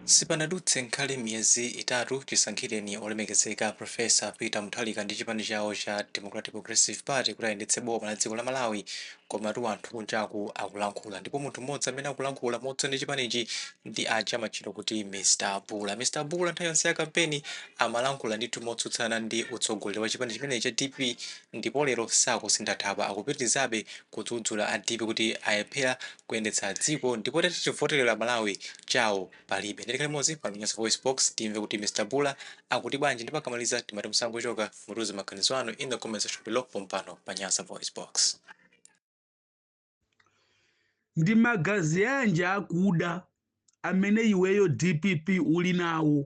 Sipanadutse nkomwe miyezi itatu chisankhireni olemekezeka Profesa Peter Mutharika ndi chipani chawo cha Democratic Progressive Party kuti ayendetse boma la dziko la Malawi komatu anthu kunjaku akulankhula ndipo munthu mmodzi amene akulankhula motsutsa ndi chipanichi ndi aja amatchedwa kuti Mr Bula. Mr Bula nthawi yonse ya kampeni amalankhula ndithu motsutsana ndi utsogoleri wa chipani chimenechi cha dpp ndipo lero sakusintha thabwa akupitilizabe kudzudzula a dpp kuti alephera kuyendetsa dziko ndipo ati chivotelero amalawi chawo palibe nde tikhale limodzi pa nyasa voice box timve kuti Mr Bula akuti bwanji ndipo akamaliza inu musangochoka mutiuze maganizo anu in the comment section below pompano pa nyasa voice box. ndi magazi anji akuda amene iweyo dpp uli nawo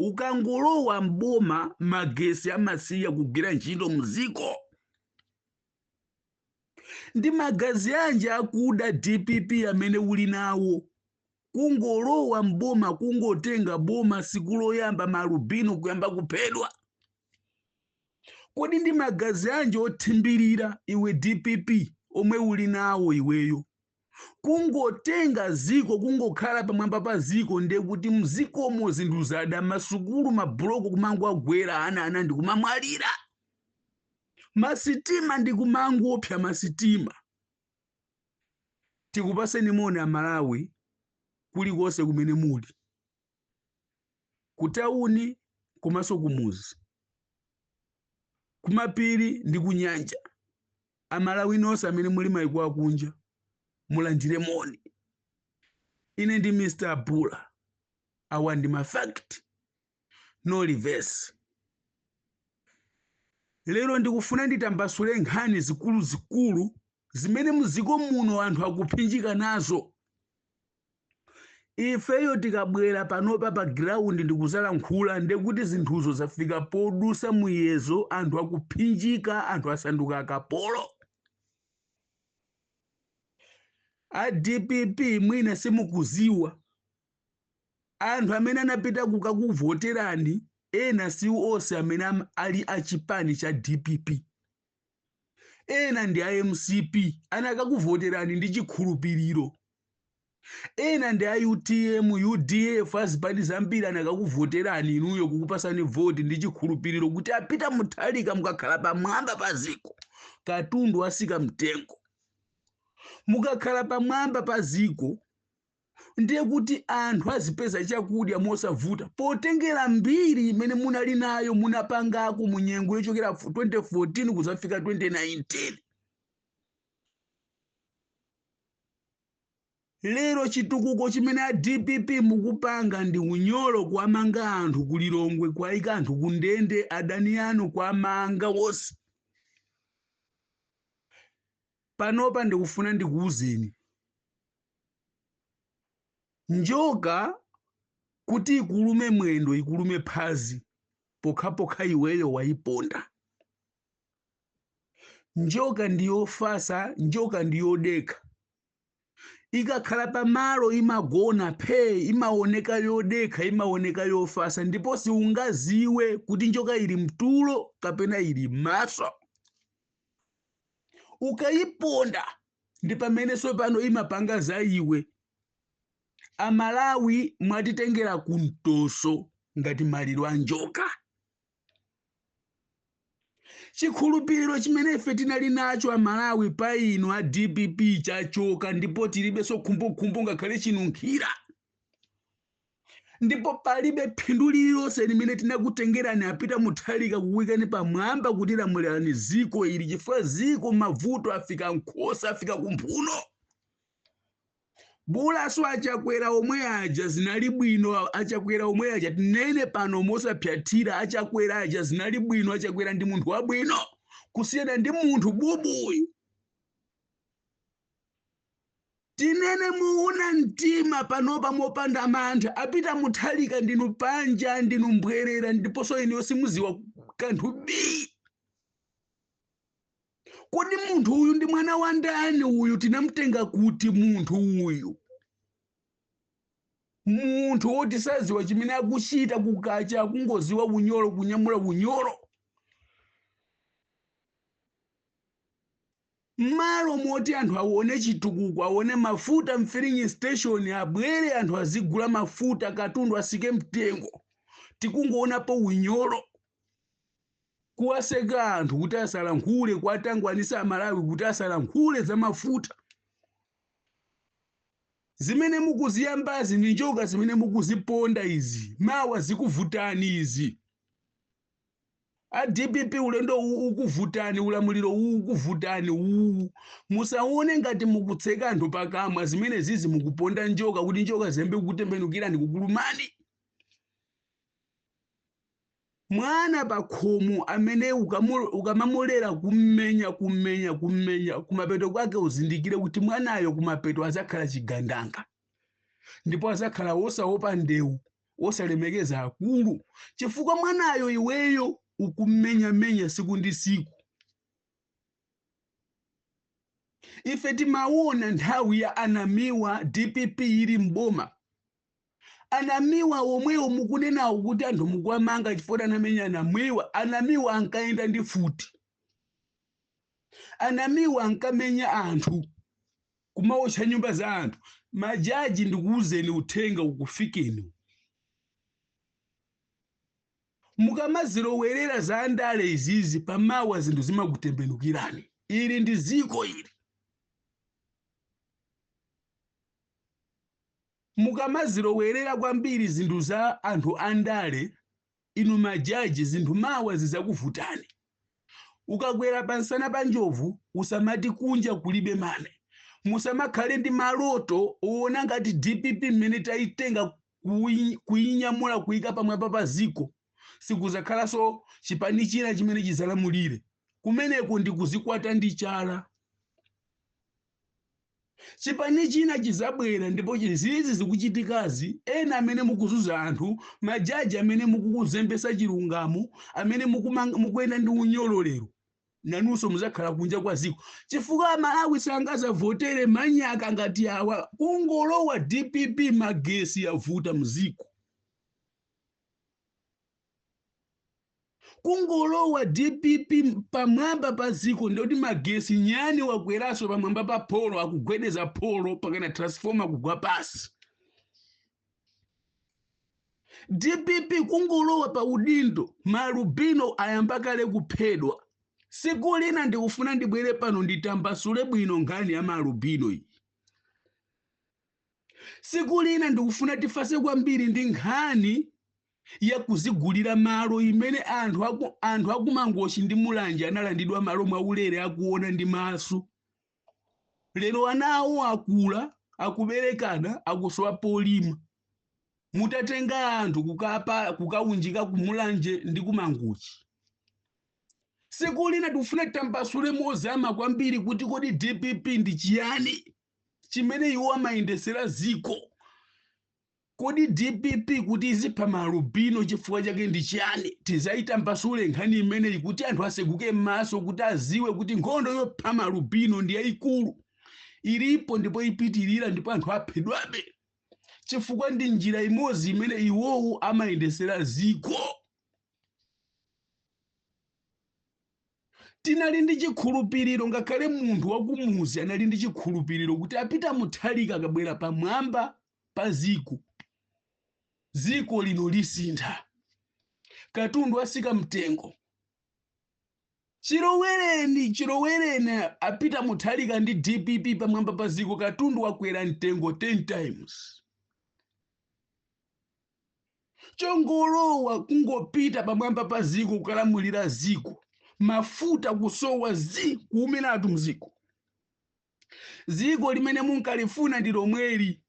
ukangolowa mboma magesi amasiya kugwira ntchito mziko ndi magazi anji akuda dpp amene uli nawo kungolowa mboma kungotenga boma siku loyamba maalubino kuyamba kuphedwa Kodi ndi magazi anji othimbilira iwe dpp omwe uli nawo iweyo? Kungotenga ziko kungokhala pamwamba pa ziko nde kuti mzikomo zinthu zada masukulu mabuloko kumangowagwera ana ana ndikumamwalira. Masitima ndikumangopsa masitima. Tikupaseni moni a Malawi kulikonse kumene muli. kutauni komanso kumuzi kumapiri ndi kunyanja amalawi nonse amene muli maiko akunja mulandire moni ine ndi mr bula awa ndi mafact no reverse lero ndikufuna nditambasule nkhani zikuluzikulu zimene muziko muno anthu akuphinjika nazo ifeyo tikabwera panopa pa ground ndikuzalankhula ndekuti zinthuzo zafika podusa muyezo anthu akuphinjika anthu asanduka akapolo a dpp mwina simukuziwa anthu amene anapita kukakuvoterani ena si onse amene ali achipani cha dpp ena ndi a mcp anakakuvoterani ndi chikhulupiriro ena ndi a utm udf azipani zambiri anakakuvoterani inuyo kukupasani voti ndi chikhulupiriro kuti a Peter Mutharika mukakhala pamwamba pa ziko katundu asika mtengo mukakhala pamwamba pa ziko ndiye kuti anthu azipeza chakudya mosavuta potengera mbiri imene munali nayo munapangako mu nyengo yochokera 2014 kuzafika 2019 lero chitukuko chimene a dpp mukupanga ndi unyolo kuwamanga anthu ku lilongwe kuwayika anthu ku ndende adani anu kuwamanga wonse Panopa ndikufuna ndikuuzeni njoka kuti ikulume mwendo ikulume phazi pokhapokha iweyo wayiponda njoka ndiyofasa njoka ndiyodekha ikakhala pamalo imagona phee imaoneka yodekha imaoneka yofasa ndipo siungaziwe kuti njoka ili mtulo kapena ili mmaso ukayiponda ndi pamene sopano imapanga za iwe amalawi mwatitengera kumtoso ngati maliro a njoka chikhulupiriro chimene ife tinali nacho amalawi pa inu a dpp chachoka ndipo tilibenso khumbokhumbo ngakhale chinunkhira ndipo palibe phindu lililonse limene tinakutengerani apita muthalika kuwaikani pamwamba kuti lamulirani ziko ili chifukwa ziko mavuto afika nkhosa afika kumphuno bola so achakwera omwe aja zinali bwino a- achakwera omwe aja tinene pano mosapsatira achakwera aja zinali bwino achakwera ndi munthu wabwino kusiyana ndi munthu bubuyu tinene muuna mtima panopa mopanda mantha apita muthalika ndinu panja ndinu mbwerera ndiponso inuyo simuziwa kanthu bii kodi munthu uyu ndi mwana wa ndani uyu tinamtenga kuti munthu uyu munthu woti saziwa chimene akuchita kukacha akungoziwa unyolo kunyamula unyolo mmalo moti anthu aone chitukuko aone mafuta mfilling station abwere anthu azigula mafuta katundu asike mtengo tikungoonapo unyolo Kuwaseka anthu kuti asalankhule, kuwatangwanisa Amalawi kuti asalankhule za mafuta. Zimene mukuziyambazi ndi njoka zimene mukuziponda izi, mawa zikuvutani izi. A dpp ulendowu ukuvutani, ulamuliro uwu ukuvutani uwu. Musaone ngati mukutseka anthu pakamwa zimene zizi mukuponda njoka kuti njoka ziyambe kukutembenukirani kukulumani. Mwana pakhomo amene ukamamulera kummenya kummenya kummenya kumapeto kwake uzindikire kuti mwanayo kumapeto azakhala chigandanga ndipo azakhala wosaopa ndewu wosalemekeza akulu chifukwa mwanayo iweyo ukummenyamenya siku ndi siku ife timaona nthawi ya anamiwa dpp ili mboma Anamiwa omwewo mukunenawo kuti anthu mukuwamanga chifukwa anamenya anamiwa anamiwa ankayenda ndi futi anamiwa ankamenya anthu kumawotcha nyumba za anthu majaji ndikuwuzeni uthenga ukufikeni mukamazilowerera za andale izizi pamawa zinthu zimakutembenukirani ili ndi ziko ili Mukamazilowerera kwambiri zinthu za anthu andale inu majaji zinthu mawa zizakuvutani. Ukakwera pansana pa njovu usamati kunja kulibe mame. Musamakhale ndi maloto owona ngati dpp mmene tayitenga kuyinyamula kuyika pamwamba pa ziko sikuzakhalanso chipani china chimene chizalamulire. Kumeneko ndi kuzikwata ndi chala. Chipani china chizabwera ndipo izizi zikuchitikazi ena amene mukuzuza anthu majaji amene mukukuzembesa chilungamo amene mukuyenda ndi unyolo lero nanunso muzakhala kunja kwa ziko chifukwa amalawi sangazavotere manyaka ngati awa kungolowa dpp magesi yavuta mziko kungolowa dpp pamwamba pa ziko ndikuti magesi nyani wakweraso pamwamba pa polo akugwedeza polo pakana transformer kugwa pasi dpp kungolowa pa udindo malubino ayamba kale kuphedwa siku lina ndikufuna ndibwere pano nditambasule bwino nkhani ya malubino iyi siku lina ndikufuna tifase kwambiri ndi nkhani ya kudzigulira malo imene anthu akumangochi ndi mulanje analandidwa malo mwaulere akuona ndi maso lero ana awo akula akuberekana akusowa polima mutatenga anthu kukaunjika kumulanje ndi kumangochi siku lina tifuna titambasule mozama kwambiri kuti kodi dpp ndi chiyani chimene iwo amayendesera ziko Kodi dpp kuti izipha ma alubino chifukwa chake ndi chiyani? Tizayitambasule nkhani imeneyi kuti anthu aseguke mmaso kuti aziwe kuti nkhondo yopha ma alubino ndi yaikulu. Ilipo ndipo ipitilira ndipo anthu aphedwabe chifukwa ndi njira imodzi imene iwowo amayendesera ziko. Tinali ndi chikhulupiliro ngakhale munthu wakumudzi anali ndi chikhulupiliro kuti a Peter Mutharika akabwera pamwamba pa ziko ziko lino lisintha katundu asika mtengo chilowereni chilowereni a Peter Mutharika ndi dpp pamwamba pa ziko katundu wakwera mtengo 10 times chongolowa kungopita pamwamba pa ziko kukalamulira ziko mafuta kusowa zi kuumiratu mziko Ziko limene munkalifuna ndi lomweli.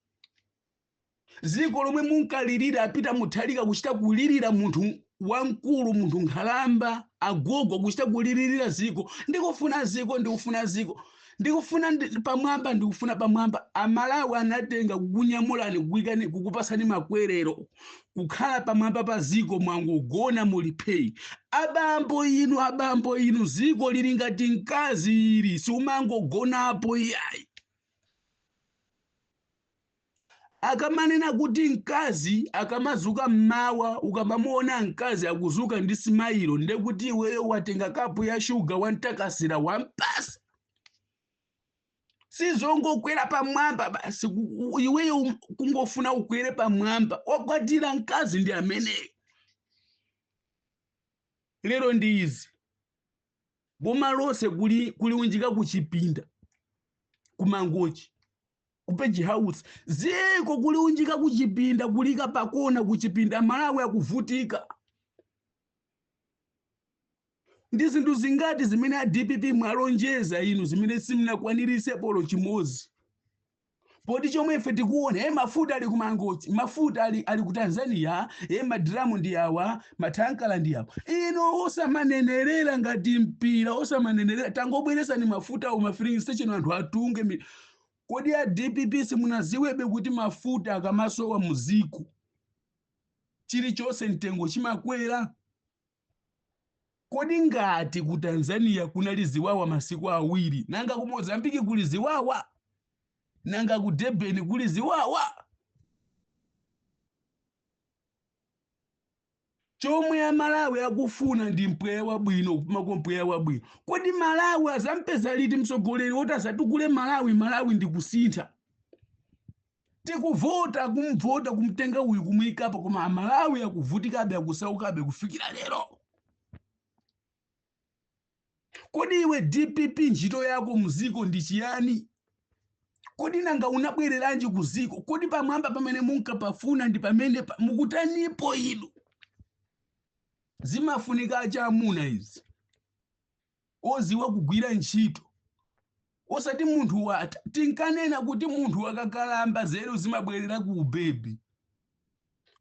Ziko lomwe munkalirira a Peter Mutharika kuchita kulirira munthu wamkulu munthu nkhalamba agogo kuchita kulirira ziko ndikufuna ziko ndikufuna ziko ndikufuna ndi- pamwamba ndikufuna pamwamba amalawi anatenga kukunyamulani kukuikani kukupasani makwerero kukhala pamwamba pa ziko mwangogona muli phee abambo inu abambo inu ziko lili ngati mkazi ili siumangogonapo iyayi akamanena kuti mkazi akamazuka mmawa ukamamuona mkazi akuzuka ndi simailo nde kuti iweyo watenga kapu ya shuga wamtakasira wampasa sizongokwera pamwamba basi ku- ku- iweyo um- kungofuna ukwere pamwamba wakwatira mkazi ndi ameneyo lero ndi izi boma lonse kuli- kuliunjika kuchipinda ku Mangochi ku Page House ziko kuliunjika kuchipinda kuliika pakona kuchipinda malawi akuvutika Ndi zinthu zingati zimene a dpp mwalonjeza inu zimene simunakwanirise olo chimozi? Poti chomwe ife tikuona e mafuta ali ku Mangochi, mafuta ali, ali ku Tanzania, e madramu ndi awa, mathankala ndi awa. Ino osamanenerera ngati mpira, osamanenerera tangobweresani mafuta mma filling station anthu atunge. mi- Kodi a dpp simunaziwebe kuti mafuta akamasowa muziko chilichonse mtengo chimakwera? Kodi ngati ku Tanzania kunali ziwawa masiku awiri, nanga ku Mozambique kuli ziwawa? Nanga ku Durban kuli ziwawa? Chomwe a Malawi akufuna ndi mpweya wabwino, kupumako mpweya wabwino. Kodi Malawi azampeza liti mtsogoleri woti azatukule Malawi, Malawi ndi kusintha? Tikuvota kumvota kumtenga uyu kumuyikapo koma amalawi akuvutikabe akusaukabe kufikira lero. Kodi iwe DPP ntchito yako muziko ndi chiyani? Kodi nanga unabwereranji kuziko? Kodi pamwamba pamene munkapafuna ndi pamene pa- mukutanipo inu? Zimafunika achamuna izi. oziwa kugwira ntchito osati munthu watha tinkanena kuti munthu akakalamba zeru zimabwerera ku ubebi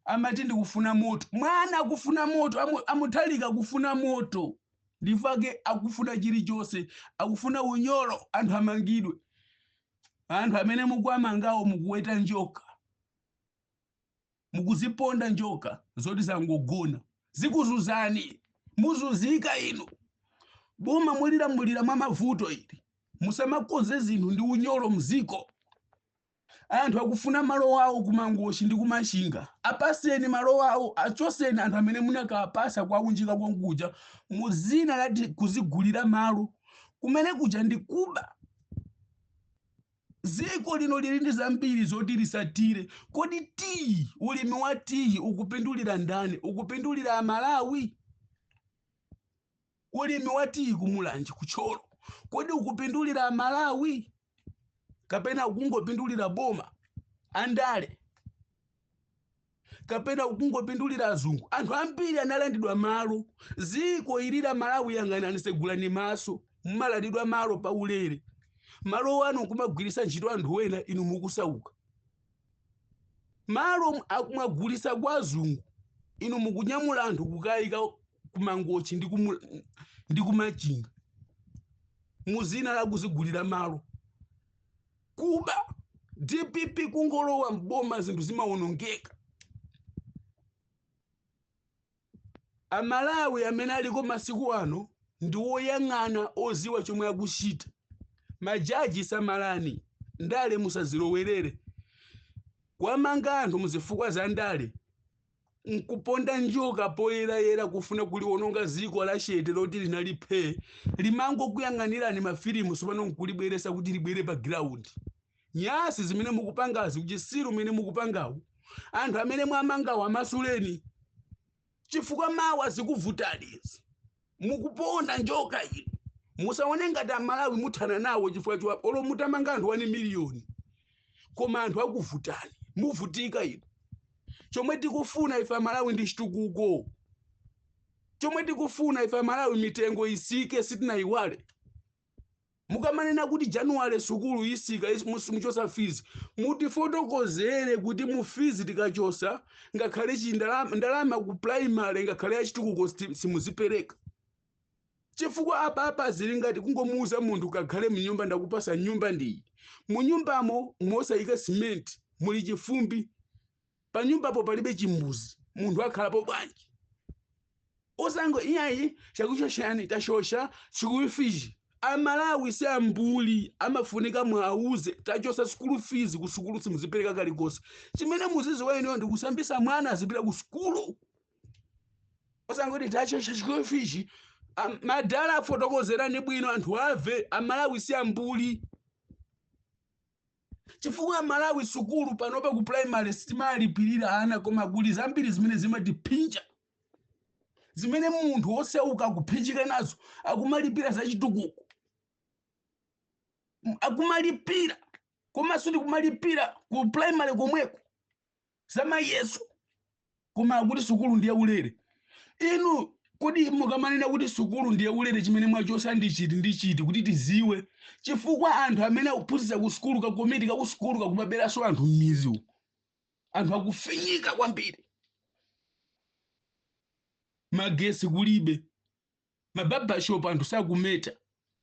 amati ndikufuna moto mwana akufuna moto amu- amuthalika akufuna moto ndifa ake akufuna chilichonse akufuna unyolo anthu amangidwe anthu amene mukuwamangawo mukuweta njoka mukuziponda njoka zoti zangogona zikuzuzani muzuzika inu boma mulilamulira mwa mavuto ili musamakonze zinthu ndi unyolo mziko anthu akufuna malo awo kumangochi ndi kumachinga apaseni malo awo achoseni anthu amene munakapasa kwaunjika kunkuja mu zina la kuzigulira malo kumene kuja ndi kuba Dziko lino lili ndi zambiri zoti litsatire. Kodi tiyi, ulimi wa tiyi ukupindulira ndani? Ukupindulira Amalawi? Ulimi wa tiyi ku Mulanje, ku Thyolo, kodi ukupindulira Amalawi kapena ukungopindulira boma, andale? kapena ukungopindulira azungu anthu ambiri analandidwa malo ziko ili la malawi yang'anani tsegulani maso mumalandidwa malo pa ulere malo wanu nkumagwiritsa ntchito anthu wena inu mukusauka malo akumagulisa kwa azungu inu mukunyamula anthu kukayika kumangochi ndi kumu- ndi kumachinga muzina la kuzigulira malo Kuba. Dpp kungolowa m'boma zinthu zimawonongeka. Amalawi amene aliko masiku ano ndi woyang'ana oziwa chomwe akuchita. Majaji samalani, ndale musazilowerere. Kuwamanga anthu muzifukwa za ndale nkuponda njoka poyerayera kufuna kuliwononga dziko la chete loti linali phee limangokuyang'anirani mafilimu tsopano nkulibweresa kuti libwere pa giraundi nyasi zimene mukupangazi uchisiru umene mukupangawu anthu amene mwamangawo amasuleni chifukwa mawa zikuvutani izi mukuponda njoka inu musaone ngati amalawi muthana nawo chifukwa choti olo mutamanga anthu 1 miliyoni koma anthu akuvutani muvutika inu chomwe tikufuna ife amalawi ndi chitukuko chomwe tikufuna ife amalawi mitengo isike sitinayiwale Mukamanena kuti January sukulu isika muchosa fees mutifotokozere kuti mu fees tikachosa ngakhale chindalama ku primary ngakhale yachitukuko simuzipereka chifukwa apa zili ngati kungomuuza munthu kakhale mnyumba ndakupasa nyumba ndiyi munyumbamo musayika simenti muli chifumbi panyumbapo palibe chimbuzi munthu akhalapo bwanji osango iyayi chakuchosani tachosa school fees amalawi si ambuli amafunika muwauze tachosa school fees ku sukulu simuzipereka kalikonse chimene muziziwa inuyo ndi kusambisa mwana azipita ku sukulu osangoti tachosha school fees madala afotokozereni bwino anthu ave amalawi si ambuli chifukwa amalawi sukulu panopa ku primary sitimalipirira ana koma kuli zambiri zimene zimatiphinja zimene munthu wosauka akuphinjika nazo akumalipira zachitukuko akumalipira komansotu kumalipira ku primary komweko zamayeso koma akuti sukulu ndi yaulere inu kodi mukamanena kuti sukulu ndi yaulere chimene mwachosa ndi chiti ndi chiti kuti tiziwe chifukwa anthu amene akuphunzitsa ku sukulu kakomiti ka ku sukulu kakumaberanso anthu m'mizi uku anthu akufinyika kwambiri magesi kulibe ma barber shop anthu sakumeta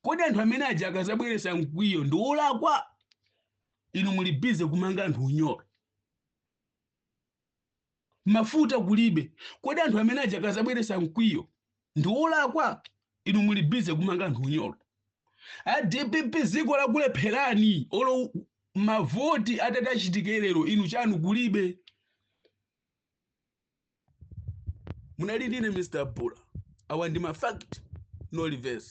kodi anthu amene aja akazabweresa mkwiyo ndi olakwa inu muli bize kumanga anthu unyolo mafuta kulibe kodi anthu amene aja akazabweresa mkwiyo ndi olakwa inu muli bize kumanga anthu unyolo a dpp ziko lakulepherani olo mavoti atati achitike lero inu chanu kulibe munali ndine mr bula awa ndi mafact no reverse